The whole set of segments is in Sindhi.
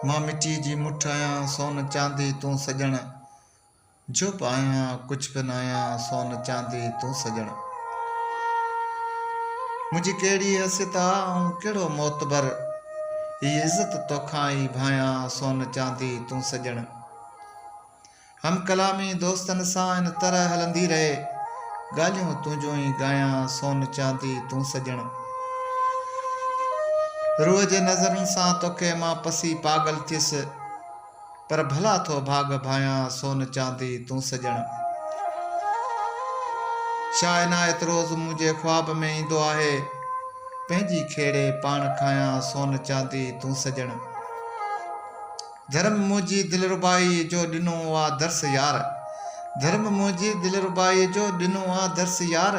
مان مٽيء جي مٺ آهيان، سون چاندي تون سڄڻ. جهپ آهيان، ڪجهه به ناهيان، سون چاندي تون سڄڻ. منهنجي ڪهڙي حيثيت آ، آئون ڪهڙو معتبر. هي عزت توکان ئي ڀانئيان، سون چاندي تون سڄڻ. هم ڪلامي دوستن سان ان طرح هلندي رهي. ڳالهيون تنهنجون ئي ڳايان سون چاندي تون سڄڻ. روح جي نظرن سان توکي مان پسي پاڳل ٿيس. پر ڀلا ٿو ڀاڳ ڀايان سون چاندي تون سڄڻ. شاهه عنايت روز منهنجي خواب ۾ ايندو آهي. پنهنجي کيڙي پاڻ کايان سون چاندي تون سڄڻ. ڌرم منهنجي دلربائيء جو ڏنو آ درس يار ڌرم منهنجي دلربائيء جو ڏنو آ درس يار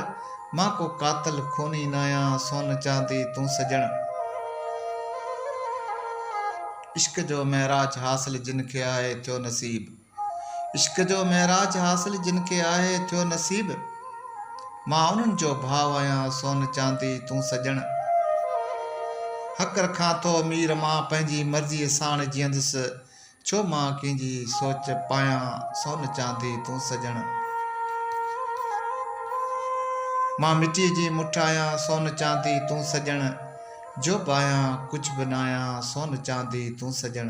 مان ڪو قاتل خوني ناهيان سون چاندي تون سڄڻ عشق جو معراج حاصل جن کي آهي ٿيو نصيب عشق جو معراج حاصل جن کي آهي ٿيو نصيب. مان انهن جو ڀاء آهيان سون چاندي تون سڄڻ. حق رکان ٿو مير مان پنهنجي مرضيء ساڻ جيئندس ڇو مان ڪنهن جي سوچ پايان سون چاندي تون سڄڻ. مان مٽيء جي مٺ آهيان سون چاندي تون سڄڻ جو به آهيان ڪجهه به ناهيان سون چاندي تون سڄڻ.